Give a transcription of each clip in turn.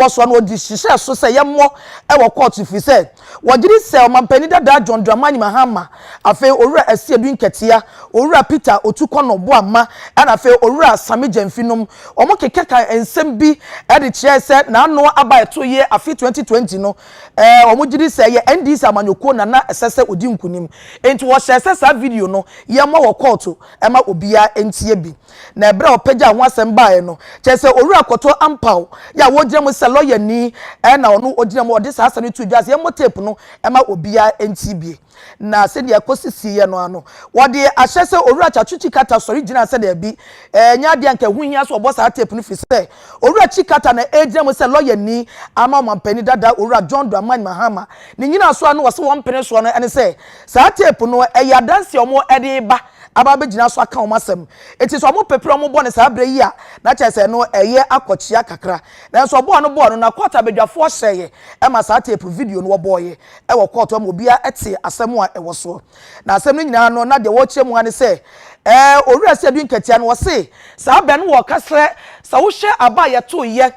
wɔsoa no wɔde hyehyɛɛ so sɛ yɛmmɔ wɔ kɔɔto firi sɛ wɔgye di sɛ ɔmampanin dadaa John Dramani Mahama, afei Owura Asiedu Nkɛtea, Owura Peter Otu Kɔnɔ Boamma ɛna afei Owura Sammy Gyamfi nom wɔkekeka nsɛm bi de kyerɛɛ sɛ n'ano aba a ɛtoo yie afe 2020 no wɔgye di sɛ ɛyɛ NDC amanyɔkuo na na ɛsɛ sɛ ɔdi nkunim. Enti wɔhyɛɛ sɛ saa video no yɛmmɔ wɔ kɔɔto ma obiara ntie bi. Na ɛberɛ a ɔpɛgyaa ho asɛm baeɛ no, kyerɛ sɛ Owura Kortoa Ampaw yi a ɔgyina mu sɛ lɔyani na ɔno ɔgyina mu, ɔde saa asɛm no too dwa sɛ yɛmmɔ tape no mma obiara ntie bi. Na sɛdeɛ ɛkɔsi siiɛ no ara no, wɔde ahyɛ sɛ Owura Chachuchi Carter sɔre gyina sɛ daabi, ɛnyɛ adeɛ a anka ɛho hia sɛ ɔbɔ saa tape no firi sɛ Owura Chi Carter na ɛregyina mu sɛ lɔyani ama ɔmampanin dada Owura John Dramani Mahama. Ne nyinaa so ara no wɔse wɔn mpene soɔ no ne sɛ saa tape no yɛ adanseɛ a wɔde reba aba abɛgyina so aka wɔn asɛm. Enti sɛ wɔpepere wɔn bɔne saa berɛ yi a, na kyerɛ sɛ ɛno ɛyɛ akwakyia kakra. Nanso ɔbɔ a ano bɔɔ no, na kɔɔto abadwafoɔ hyɛeɛ ma saa teepu video no wɔbɔeɛ wɔ kɔɔto hɔ ma obiara tee asɛm a ɛwɔ soɔ. Na asɛm no nyinaa no, na deɛ wɔrekyerɛ mu ara ne sɛ, ɛɛ, Owura Sir Edwin Katia no, ɔse, saa bɛ no wɔ ɔka sɛ sɛ wohwɛ aba a yɛtoeɛ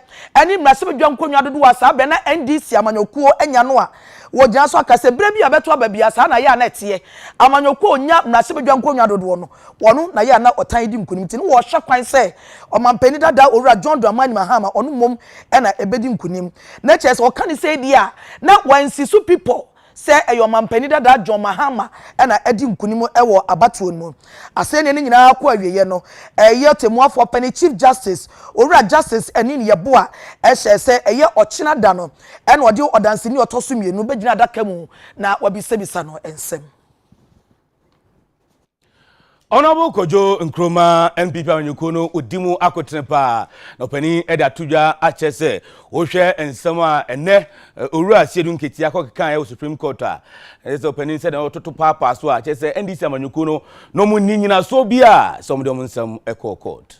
ne mmarahyɛbadwa nkonnwa dodoɔ a saa bɛ na NDC amanyɔkuo anya no a, Wɔgyina so aka sɛ berɛ bi a ɛbɛto aba biara saa na yɛ a na ɛteɛ. Amanyɔkuo a ɔnya mmarahyɛbadwa nkonnwa dodoɔ no, ɔno na yɛ a na ɔtan redi nkunim nti na wɔhwɛ kwan sɛ ɔmampanin dada Owura John Dramani Mahama ɔno mmom na ɛbɛdi nkunim. Na kyerɛ sɛ wɔka no sei deɛ a na wɔansi so pi pɔ sɛ ɛyɛ ɔmampanin dada John Mahama na adi nkunim wɔ abatoɔ no mu. Asɛnniɛ no nyinaa kɔ awieɛ no, ɛyɛ Ɔtɛmmuafoɔ Panin Chief Justice Owura Justice Anin Yeboah hyɛɛ sɛ ɛyɛ ɔkyena da no Ɛnna ɔde ɔdanseni a ɔtɔ so mmienu bɛgyina adaka mu na wabisabisa no nsɛm. Honourable Kojo Nkrumah NPP amanyɔkuo no ɔdi mu akotene paa na ɔpanin de ato dwa akyɛ sɛ wohwɛ nsɛm a ɛnɛ owura Siedu Nketia akɔkekaeɛ wɔ Supreme Court a ɛsɛ sɛ ɔpanin sɛ na ɔtoto paapaa so a kyɛ sɛ NDC amanyɔkuo no na ɔmo nni nyinasoɔ bi a sɛ ɔmo de ɔmo nsɛm ɛkɔɔ court.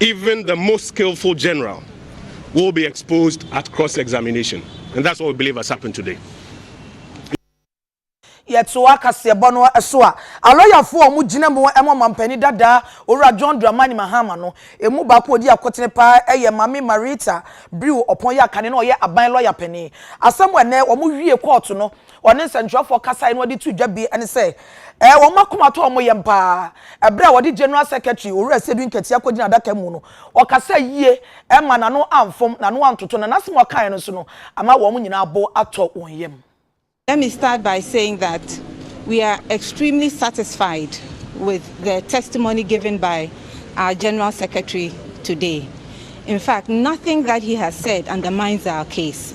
Even the most skillful general will be exposed at cross examination and that's what we believe has happened today. Yɛtoa kaseɛbɔ no so a, alɔyafo a wɔgyina mu ma Ɔmampanin dadaa Owura John Dramani Mahama no, emu baako a ɔdi akotene paa yɛ Maame Marita Brew Ɔpɔn Yakane na ɔyɛ aban lɔya panin. Asɛm a ɛnnɛ wɔwiee kɔɔto no Wɔne nsɛntwerɛfoɔ kasaeɛ na wɔde too dwa bi ne sɛ, ɛɛ, wɔn akoma tɔ wɔn yam pa ara. Ɛberɛ a wɔde General Secretary Owura Sedui Nketiah kɔgyinaa adaka mu no, ɔkasaa yie, ɛmma n'ano amfom, n'ano antoto, na n'asɛm a ɔkaeɛ no nso no, ama wɔn nyinaa bo atɔ wɔn yam. Let me start by saying that we are extremely satisfied with the testimony given by our General Secretary today. In fact, nothing that he has said undermines our case.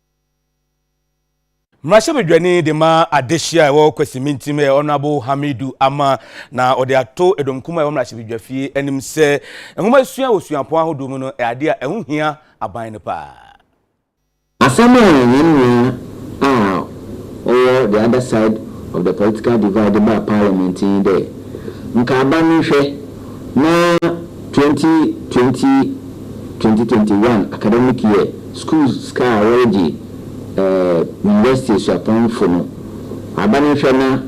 Mmarahyɛbadwani de ma adehye a ɛwɔ Kwasi Mintim yɛ Honorable Hamidu Ama na ɔde ato ɛdɔmkum a ɛwɔ mmarahyɛbadwafie anim sɛ nwoma sua wɔ suapɔn ahodoɔ mu no ɛyɛ adeɛ a ɛho hia aban no paa. Asɛm a yɛn nua a ɔwɔ the other side of the political divide de baa parliament nye dɛ nka aban no nhwɛ na twenty twenty, twenty twenty one academic year Skuul sika a wɔregye eh university esuapɔnfo no, aban nhwɛ na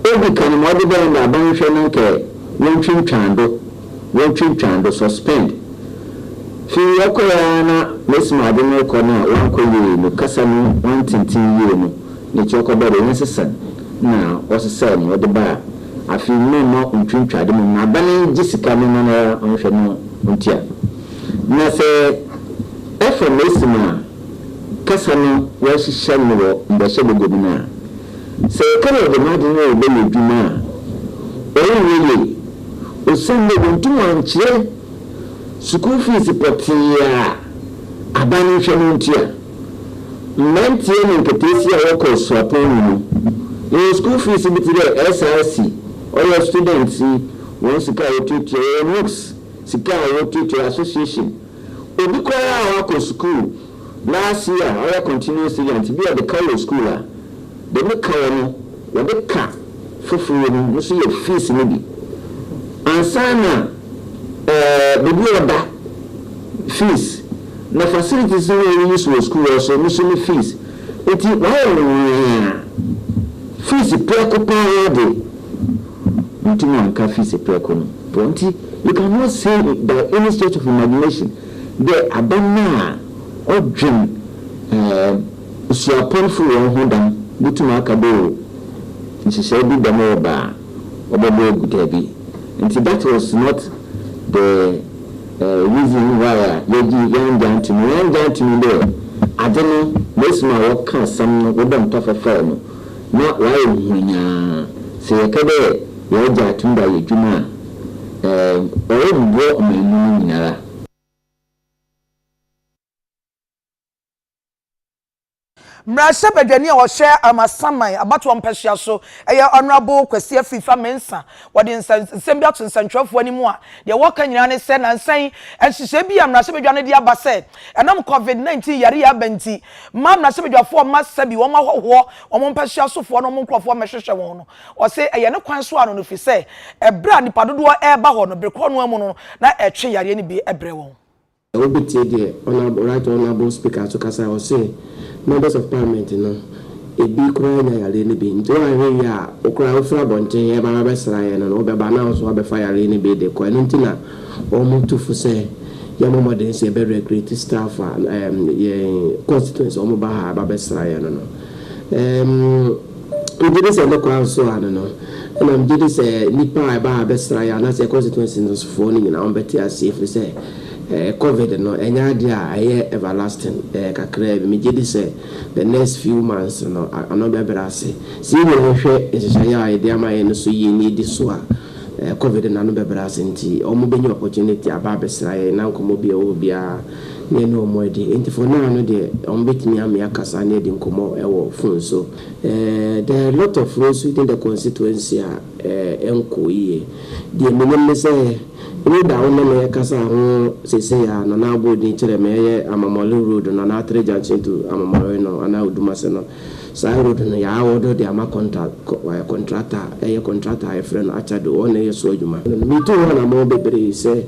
odzi kan ma ɔdze bɛn dɛ aban nhwɛ na nka wontwintwan do, wontwintwan do, suspend. Fi ɔkɔe ara na mesim adze no rekɔ no a ɔannkɔ yie no, kasa no ɔanntsentsen yie no, ne kyerɛ kɔbɔɔ dɛ yɛnsesa na ɔsesae na ɔdze baa afei mma mma ontwintwa do mbom aban ngye sika no na noara ɔnhwɛ na ontsia. Na sɛ ɔfa mesi mu a, kasa no wɔahyehyɛ no wɔ mbɔhyɛ baguo bi mu a, sɛ yɛka dɛ yɛde hɛn adwen rebɛyɛ edwuma a, ɔrennyɛ yie, osiandɛ wonntum annkyerɛ sukuu fees pɔtsee a aban no nhwɛ no nntua. Mberantsɛ na nkataasia a wɔkɔ esuapɔn mu no, yɛwɔ sukuu fees bi tse dɛ SRC, ɔyɛ students yi hɔn sika a wotuatua, yɛwɔ NUCS, Sika a ɔwɔ Tete Association. Obi koraa a wakɔ sukuu last year a ɔyɛ continuing student bi a ɔde ka wɔ sukuu a, deɛ ne ka wɔ no wɔde ka foforo wɔ mu no nso yɛ fees no bi ansa na ɛɛ baabi a ɔda fees na facilities no a ɔyɛ use wɔ sukuu hɔ nso no nso ne fees. Nti wayɛ nwaa a fees biako paa de. Yentumi anka fise prɛko no. Wɔ nti, you can not say by any stretch of imagination dɛ aba no a ɔdwen ɛɛm suapɔnfo hɔn ho dɛm botum aka dɛ oh nhyehyɛɛ bi dɛm reba a ɔbɔbɔ egu. Dabi. Ntsi that was not the eh reason why a yɛgye yɛanngye annto mu. Yɛanngye annto mu dɛ adze no, Mersuma a wɔkã asɛm no, wobɔ ntɔfafaa mu. na wɔayɛ huanyaa. Sɛ yɛkã dɛ yɛregye ato mu dɛ ayɛ edwuma a, ɛɛ, ɔrommboa ɔman mu no nyinara. Mbrahyɛbadwani a ɔhwɛ Amasaman abatoɔ mpɛsoa so yɛ Honourable Kwesi Afifa Mensah. Wɔde nsɛnsɛm bi ato nsɛnkyerɛwfoɔ anim a deɛ wɔka nyinaa ne sɛ nansa yi nhyehyɛe bi a mmarahyɛbadwa no de aba sɛ ɛnam Covid 19 yare yi aba nti Mma mmarahyɛbadwafoɔ mma sɛbi wɔn ahɔhoɔ, wɔn mpasua sofoɔ ne wɔn nkurɔfoɔ mmɛhwehwɛ wɔn no. Ɔse ɛyɛ ne kwan so ano no firi sɛ ɛberɛ a nnipa dodoɔ reba hɔ no, bere korɔ no ara mu no na ɛtwe yareɛ no bi brɛ wɔn. Wobɛtie deɛ Honourable Right Honourable Speaker nso kasa a ɔse Members of Parliament no ɛbi koraa nya yareɛ no bi nti woanhwɛ yie a wo koraa wofiri abɔnten ɛba bɛbɛsra yɛn no wobɛba na wo nso wabɛfa yareɛ no bi de kɔ ɛno nti na Wɔtu fo sɛ yɛmmɔ mmɔden sɛ yɛbɛ recruit staff a yɛn constituency a wɔba ha ba bɛsra yɛn no no. Ɛɛm megye di sɛ ne kwan so ara no no, ɛna megye di sɛ nnipa a ɛba ha bɛsra yɛn anaasɛ yɛn constituency no sofoɔ no nyinaa wɔbɛte aseɛ ɛfiri sɛ ɛɛ covid no ɛnyɛ adeɛ a ɛyɛ everlasting, ɛyɛ kakraa bi. Megye di sɛ the next few months no ano bɛbrɛ ase. Sɛ yɛn nyinaa hwɛ nhyehyɛeɛ a yɛde ama yɛn no so yie na yɛdi so a, Covid no ano bɛbrɛ ase ntsi, wɔbenya opportunity aba abɛsera hɛn na nkɔmbɔ bi a ɔwɔ hɔ biara na yɛnye hɔn edi. Ntsi for now no deɛ, wɔbetumi ame akasa na yɛadi nkɔmbɔ wɔ phone so. There are a lot of no so within the constituency a ɛnnkɔ yie. Deɛ menyim ne sɛ, road a wo ne me rekasa ho sesei a Nana Aboodin kyerɛɛ me, ɛyɛ Amamɔle road no, anaa Atere junction to Amamɔle no, anaa Odumase no, Saa road no yɛ awɔdɔ de ama kɔntal ɛ kɔntrakta a ɛyɛ kɔntrakta a yɛfrɛ no Akyado wɔn na ɛyɛ so adwuma. Metu ho anammɔn bebree sɛ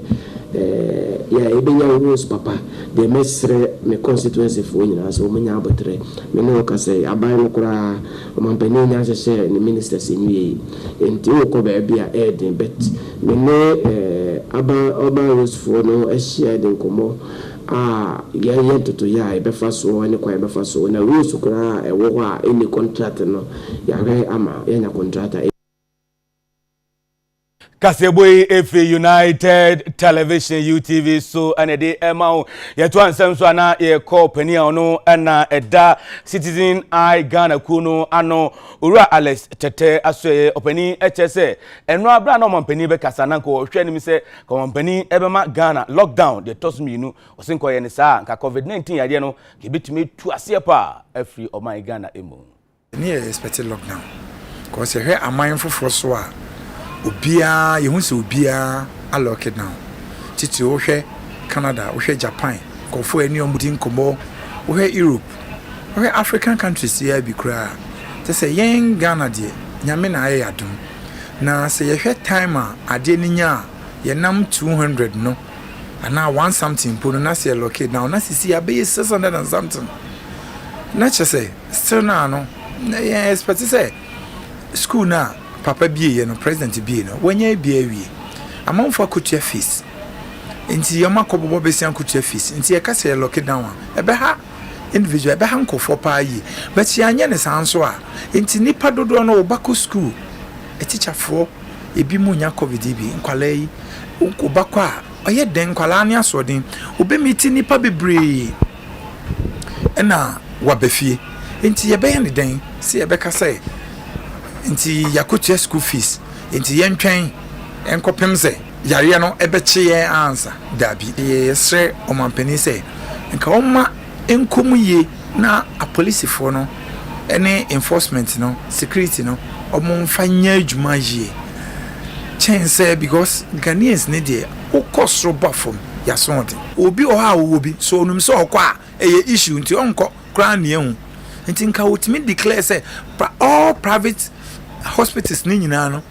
ɛ yɛ yɛbɛnya roads papa deɛ mɛsrɛ me constituency foɔ nyinaa sɛ wɔn nyɛ aboterɛ me ne wo ka sɛ aban no koraa ɔmanpanin nnya nhyehyɛ ne ministers nwie yi ɛnti wo kɔ baabi a ɛyɛ den but me ne ɛ aban urban roads foɔ no ahyia de nkɔmmɔ a yɛyɛ ntotoeɛ a yɛbɛfa soɔ ne kwan a yɛbɛfa so na rules koraa a ɛwɔ hɔ a ɛnni kɔntrat no yɛahwɛ ama yɛanya kɔntrat a Kaseɛbɔ yi efi United Television UTV so ɛna ɛde ɛma wo. Yɛto ansɛm so ana yɛkɔ panin a ɔno ɛna ɛda Citizen Eye Ghana kuo no ano Owura Alex Tɛtɛ Asoɛyɛ ɔpanin ɛkyɛ sɛ ɛno abira na ɔmampanin bɛkasa na nka ɔhwɛ anim sɛ Wɔn panin bɛma Ghana lock down deɛ ɛtɔ so mmienu. Ɔse nka ɔyɛ no saa a, nka covid 19 yadeɛ no nka ɛbɛtumi atu aseɛ paa afiri ɔman Ghana mu. Me yɛ expect lock down cause yɛhwɛ aman foforɔ so a obiara yɛhu sɛ obiara a lock down titiriw wohwɛ Canada wohwɛ Japan nkurɔfoɔ yɛne wɔn di nkɔmmɔ wohwɛ Europe. Wohwɛ African countries yi ara bi koraa a, kyerɛ sɛ yɛn Ghana deɛ, Nyame na ayɛ yɛn adom. Na sɛ yɛhwɛ time a adeɛ no nya a, yɛnam two hundred no, anaa one something mpo no, na sɛ yɛ lucky now, na sisi abɛyɛ six hundred and something. Na kyerɛ sɛ, still now no, na yɛn expect sɛ school no a, Papa bieɛ no president bie no wanya abie awie amanfo akotua fees nti wɔn akɔ bɔbɔ besia akotua fees nti yɛka sɛ yɛ lock down a ɛbɛha individual ɛbɛha nkurɔfoɔ paa yie but yɛanyɛ ne saa nso a nti nipa dodoɔ no ɔba kɔ school atikyafoɔ ebi mu nya covid yi bi nkwalaa yi ɔba kɔ a ɔyɛ den nkwalaa ne asoɔden ɔbɛmiti nipa bebree na waba fie. Nti yɛbɛyɛ no dɛn? Sɛ yɛbɛka sɛ, Nti yɛakɔtua sukuu fees, nti yɛntwɛn nkɔpem sɛ yareɛ no bɛkye yɛn ansa? Daabi. Yɛsrɛ ɔmanpanin sɛ nka ɔmma nkɔ mu yie na apolisifoɔ no ne enforcement no, security no, wɔmfa nyɛ adwuma yie kyɛn sɛ, because Ghanaians no deɛ, Wo kɔ soro ba fam yaso ho de. Obi wɔ hɔ a ɔwɔ bi so ɔnum sɛ ɔkɔ a ɛyɛ issue nti ɔnkɔ koraa nea ɛho nti nka ɔtumi declare sɛ all private hospitals no nyinaa no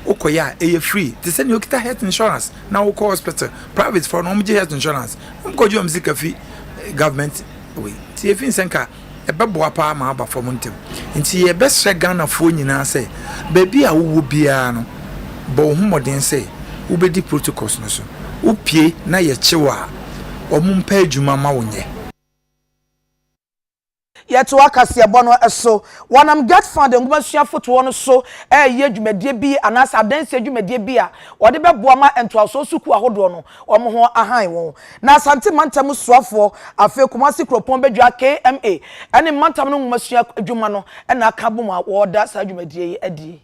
wokɔ yɛ a ɛyɛ free te sɛ nea ɔkita health insurance na wokɔ hospital private fɔ no wɔn gye health insurance wɔn kɔ gye wɔn sika fi government wei nti efi nsɛ nka ɛbɛboa paa ma aba fam ntɛm. Nti yɛbɛsrɛ Ghanafoɔ nyinaa sɛ, baabi a wowɔ biara no, bɔ wo ho mmɔden sɛ wobɛdi protocols no so. Wopue na yɛkye wo a, wɔmpɛ adwuma mma wo nyɛ. Yɛtoa kaseɛbɔ no so. Wɔnam GetFund nwomasua fotoɔ no so reyɛ dwumadie bi anaasɛ adansie dwumadie bi a wɔde bɛboa ma ntoasoɔ sukuu ahodoɔ no, wɔn ho ahan wɔn. Na Asante Mantam Soafoɔ, afei Kumasi Kuropɔn Badwa KMA, ne Mantam no Nwomasua Adwuma no na aka abom a wɔreda saa dwumadie yi adie.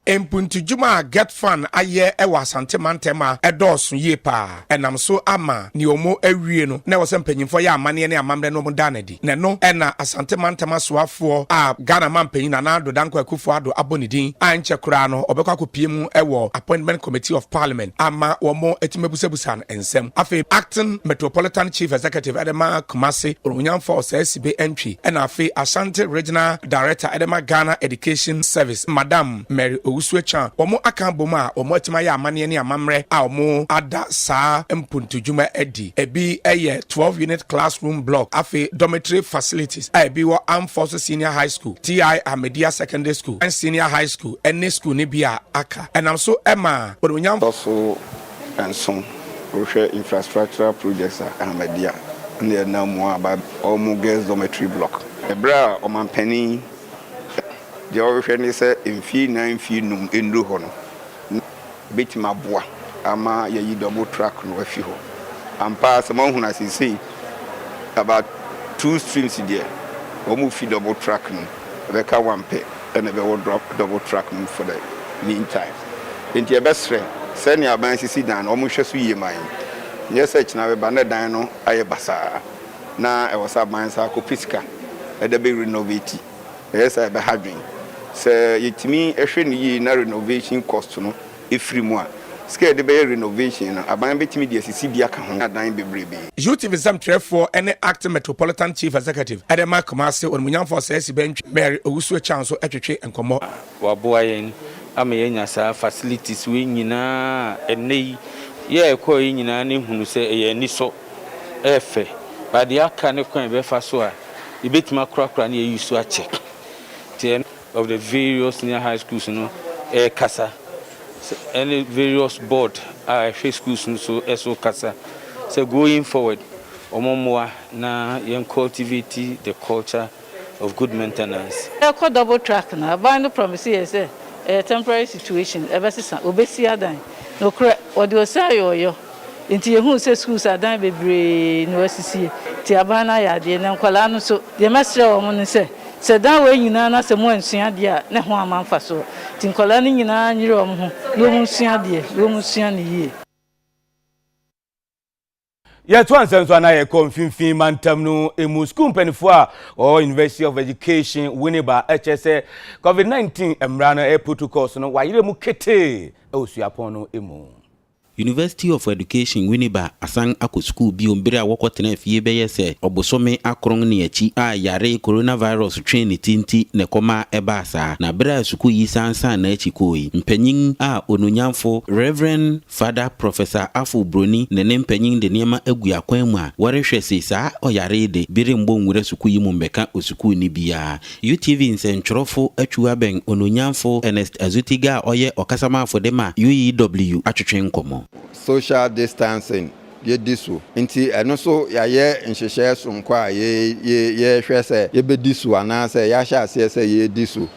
Mpuntudwuma a GETFund ayɛ wɔ Asante Mantam ma ɛdɔɔso yie paa. Ɛnam so ama nea wɔawie no na ɛwɔ sɛ mpanyimfoɔ yɛ amanneɛ ne amammerɛ no wɔda no adi. na ɛno na Asante Mantam Asoafoɔ a Ghana Mampanyin Nana Addo Dankwa Akufo-Addo abɔ ne din a ɛnkyɛ koraa no ɔbɛkɔ akɔpue mu wɔ Appointment Committee of Parliament ama wɔatumi abusabusa no nsɛm. Afei Acting Metropolitan Chief Executive de ma Kumasi Onwunyanfo Osei Sibe Antwi na afei Ashanti Regional Director de ma Ghana Education Service Madam Mary Owusu-Achiang wɔn aka abom a wɔatumi ayɛ amanneɛ ne amammerɛ a wɔada saa mpuntudwuma adi. Ebi yɛ twelve unit classroom block, afei dormitory facilities a ebi wɔ Armed Forces Senior High School, TI Ahmadiyya Secondary School and Senior High School ne school no bi a aka. Ɛnam so maa Onuonyam. Kɔ so nso wohwɛ infrastructural projects a Ahmadiyya na ɛnam mu aba wɔ wɔn girls dormitory block. Bere a Ɔmanpanin deɛ ɔrehwɛ ne sɛ mfie nnan mfie nnum nnuru hɔ no, na. Ɛbɛtumi aboa ama yɛayi dɔbo truck no afi hɔ. Ampa ara sɛ moahunu a seesei about two streams deɛ wɔrefi dɔbo truck no ɛbɛka one pɛ ɛna ɛbɛwɔ dɔbo truck no mu for the mean time. Enti yɛbɛsrɛ sɛnea aban asisi dan no wɔnhwɛ so yie ma yɛn. Nyɛ sɛ kyena bɛba na dan no ayɛ basaa na ɛwɔ sɛ aban san akɔpɛ sika de bɛ renovate. Ɛyɛ saa a, ɛbɛha adwene. Sɛ yetumi hwɛ no yiye na renovation cost no firi mu a, sika a yɛde bɛyɛ renovation no, aban betumi de asisi bi aka ho adan bebrebe. UTV nsɛm twerɛfoɔ ne Acting Metropolitan Chief Executive de ma Kumase Onimunyamfo Ɔsɛɛsi Bɛntwi Mary Owusu Akyang nso twetwe nkɔmmɔ. Waboa yɛn ama yɛanya saa facilities wei nyinaa a ɛnnɛ yi, yɛ a ɛkɔeɛ nyinaa na ɛhunu sɛ ɛyɛ anisɔ. ɛyɛ fɛ, but deɛ aka ne kwan a yɛbɛfa so a yɛbɛtumi akorakora ne yɛayi so akyɛ. Nti ɛno of the various senior high schools no ɛrekasa ɛne various board a ɛhwɛ schools no so ɛso kasa sɛ going forward wɔn mmoa na yɛn cultivate the culture of good maintenance. Yɛkɔ double track no a, ban no promise yɛn sɛ ɛyɛ temporary situation, ɛbɛsesa, wɔbɛsi adan. Nokorɛ, wɔde ɔsɛ ayɛ ɔyɔ, enti yɛhuu sɛ schools adan bebree na wɔasisi, enti aban no ayɛ adeɛ. Na nkwadaa no nso, deɛ mɛsrɛ wɔn ne sɛ, sɛ dan wei nyinaa na sɛ moansua adeɛ a, ne ho amma mfasoɔ. Enti nkwadaa no nyinaa nyere wɔn ho na wɔnsua adeɛ, na wɔnsua no yie. Yɛtoa nsɛm so anaa yɛkɔ mfimfini mantam no mu. Sukuu mpanimfoɔ a wɔwɔ University of Education Winneba kyerɛ sɛ COVID-19 mmara no ɛyɛ protocols no wɔayerɛ mu ketee wɔ suapɔn no mu. University of Education Winneba asan akɔ sukuu bio bere a wɔkɔtenaa fie bɛyɛ sɛ ɔbosome akron ne akyi a yare coronavirus twee ne ti nti na ɛkɔma ɛbaa saa. Na bere a sukuu yi san san n'akyi kɔe yi, mpanyin a onuonyamfo Rev. Fada Professor Afful Broni ne ne mpanyin de nneɛma agu akwan mu a wɔrehwɛ se saa ɔyare yi de bi remmɔ nwura sukuu yi mu mmɛka osukuuni biara. UTV nsɛntwerɛfo atwiw abɛn Onuonyamfo Ernest Azutigha a ɔyɛ ɔkasamafo de ma UEW atwetwe nkɔmmɔ. Social distancing yɛdi so nti ɛno nso yɛayɛ nhyehyɛɛ soronko a yɛrehwɛ sɛ yɛbɛdi so anaasɛ yɛahyɛ aseɛ sɛ yɛredi so.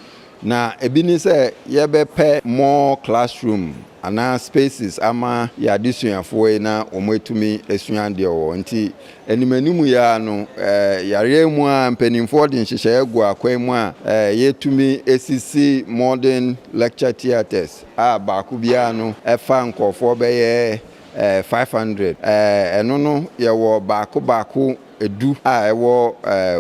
Na ebi ne sɛ yɛbɛpɛ more classroom anaa spaces ama yɛn adesuafoɔ yi na wɔatumi asua adeɛ wɔ hɔ. Nti anim anim yi ara no, yareɛ mu ara mpaninfoɔ de nhyehyɛeɛ gu akwan mu a yɛtumi sisi modern lecture theatres a baako biara no fa nkorɔfoɔ bɛyɛ 500. Ɛno no yɛwɔ baako baako du a ɛwɔ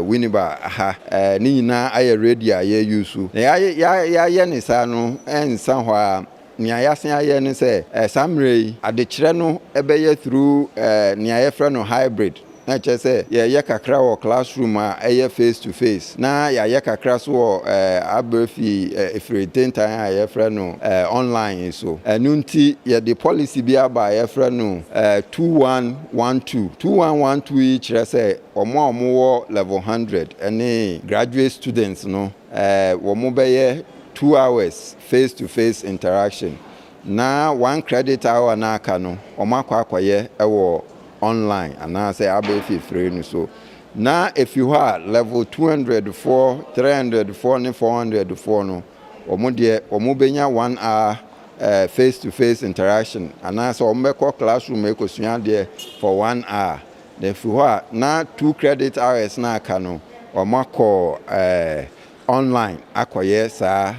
Winneba ha ne nyinaa ayɛ radio a yɛ use. Nea yɛayɛ ne saa no ɛnsa hɔ ara, nea yɛasen ayɛ ne sɛ saa mmerɛ yi adekyerɛ no bɛyɛ through nea yɛfrɛ no hybrid, na ɛkyerɛ sɛ yɛyɛ kakra wɔ classroom a ɛyɛ face to face na yɛayɛ kakra nso wɔ abrɛ fi ɛfiri ntentan a yɛfrɛ no online yi so. Ɛno nti yɛde policy bi aba a yɛfrɛ no two one. One two. Two one one two yi kyerɛ sɛ wɔn a wɔwɔ level hundred ne graduate students no wɔbɛyɛ two hours face to face interaction na one credit hour no a aka no wɔakɔ akɔyɛ wɔ online anaasɛ abɛfifire no so na ɛfiri hɔ a level two hundred foɔ, three hundred foɔ ne four hundred foɔ no wɔn deɛ wɔbɛnya one hour face to face interaction anaa sɛ wɔn bɛkɔ classroom ɛkɔsua adeɛ for one hour then firi hɔ a na two credit hours na aka no wɔn akɔ online akɔyɛ saa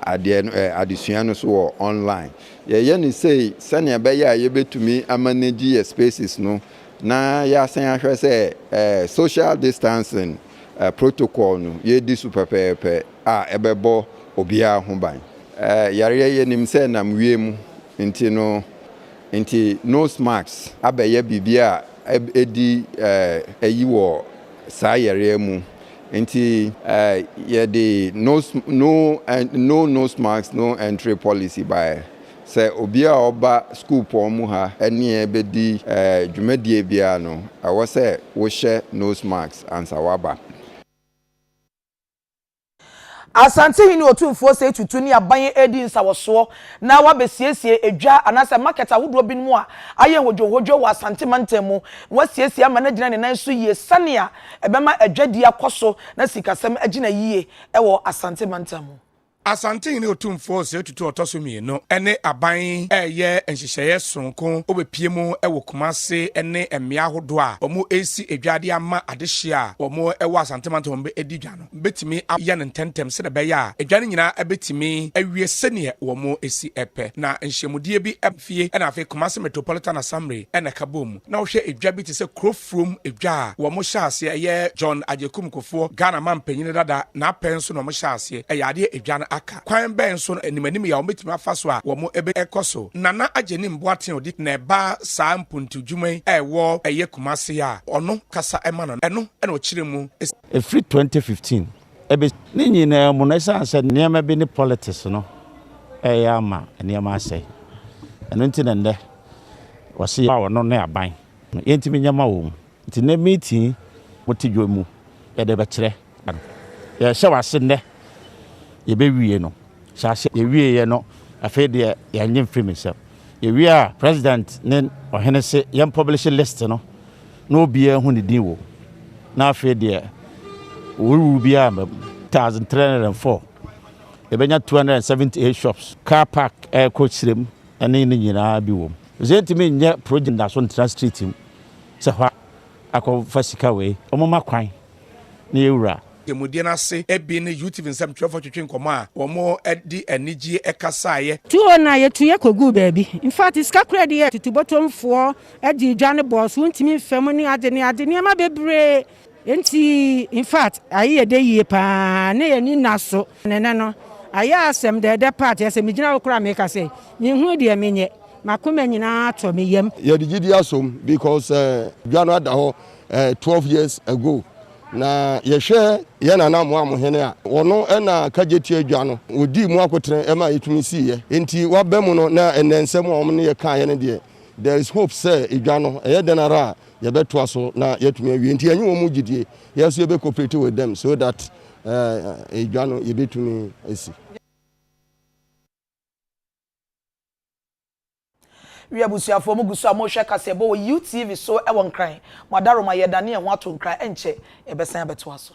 adeɛ no adesua no so wɔ online yɛyɛ ne sei sɛnea ɛbɛyɛ a yɛbɛtumi amanage yɛ spaces no na yɛasan ahwɛ sɛ social distancing protocol no yɛdi so pɛpɛɛpɛ. a ɛbɛbɔ obiara ho ban. Yareɛ yɛnim sɛ ɛnam wiem nti no nti nose mask abɛyɛ biribi a ɛdi ayi wɔ saa yareɛ mu nti yɛde no nose mask no entry policy baeɛ sɛ obiara a ɔba sukuupɔn mu ha ne yɛn bɛdi dwumadie biara no ɛwɔ sɛ wohyɛ nose mask ansa waba. Asantehene Otumfoɔ Osei Tutu ne aban yi redi nsawɔsoɔ na wɔabɛsiesie edwa anaasɛ market ahodoɔ binom a ayɛ hodwohodwo wɔ Asante mantam mu. Wɔasiesie ama no agyina ne nan so yie sɛnea ɛbɛma adwadie akɔ so na sikasɛm agyina yie wɔ Asante mantam mu. Asantehene Otumfoɔ Osei Tutu a ɔtɔ so mmienu ne aban reyɛ nhyehyɛeɛ sononko wɔbɛpue mu wɔ Kumase ne mmea ahodoɔ a wɔresi dwa de ama adehyeɛ a wɔwɔ Asante mantam a wɔbɛdi dwa no bɛtumi ayɛ no ntɛmntɛm sɛdeɛ ɛbɛyɛ a dwa no nyinaa bɛtumi awie sɛdeɛ wɔsi pɛ na nhyiamudie bi mfie na afei Kumase Metropolitan Assamble na ɛka bɔɔ mu na wohwɛ dwa bi te sɛ kuro afuom dwa a wɔn hyɛ aseɛ yɛ John Agyekum Kufuor, Ghana manpanyin dada, n'apɛ nso na wɔn hyɛ aseɛ yɛ adeɛ edwa no aka. Kwan bɛn so na animanim yi a wɔbɛtumi afa so a wɔn bɛ kɔ so? Nana Agyenim Boateng odi na ɛba saa mpuntuw dwuma yi a ɛwɔ ɛyɛ Kumasi a ɔno kasa ɛma no no, ɛno na ɔkyerɛ mu sɛ. Ɛfiri twenty fifteen ɛbɛ. Ne nyinaa mu no ɛsiane sɛ nneɛma bi ne politics no ɛyɛ ama nneɛma asɛe ɛno nti na nnɛ wɔse yɛ a ɔno ne aban. No yɛntumi nyɛ ma wɔn nti nnɛ meeting mo te dwom mu yɛde bɛkyerɛ no yɛhyɛ wase nnɛ yɛbɛwie no hyɛ ase yɛwieɛ no afei deɛ yɛnye mfiri me nsɛm yɛwie a president ne ɔhene se yɛn publish list no na obiara hu ne din wɔ mu na afei deɛ wɔwuwu biara mma mu. 1304 yɛbɛnya 278 shops car park ɛrekɔ srem ne ne nyinaa bi wom. Ɔsɛ yɛntumi nyɛ project da so ntra street mu sɛ hɔ akɔfa sika wei ɔmoma kwan na yɛwura. Ademudeɛ no ase bi ne UTV nsɛmtwerɛfoɔ twetwe nkɔmmɔ a wɔde anigyeɛ kasaeɛ. Tuo na yɛtuiɛ kɔguu baabi. In fact, sika koraa di yɛ tutubɔtomfoɔ de dwa no bɔɔ so, wontumi mfa mu ne ade ne ade, nneɛma bebree. Enti in fact, aye yɛ dɛ yie pa ara, na yɛn ani nna so. Ne nnɛ no, ayɛ asɛm dɛɛdɛ paa te sɛ migyina hɔ koraa a meka sɛ, Minhu deɛ menyɛ, m'akoma nyinaa atɔ me yam. Yɛde gyidi asom because dwa no ada hɔ twelve years ago. Na yɛhwɛ yɛn nana Amoam hene a, ɔno na kagye tua dwa no, ɔdii mu akotene ɛma ɛtumi siiɛ. Enti waba mu no na ɛnnɛ nsɛm a wɔn ne yɛ kaeɛ no deɛ, there is hope sɛ dwa no ɛyɛ dɛn ara a yɛbɛtoa so na yɛatumi awie. Enti ɛnyɛ wɔn gyidie, yɛn nso yɛbɛ cooperate with them so that Eh, edwa no yebetumi asi. Wi abusuafoɔ mo gu so a mo rehwɛ kaseɛbɔ wɔ U TV so wɔ Nkran. Mo adaroma yɛredane yɛn ho ato Nkran ɛnkyɛ yɛbɛsan abɛtoa so.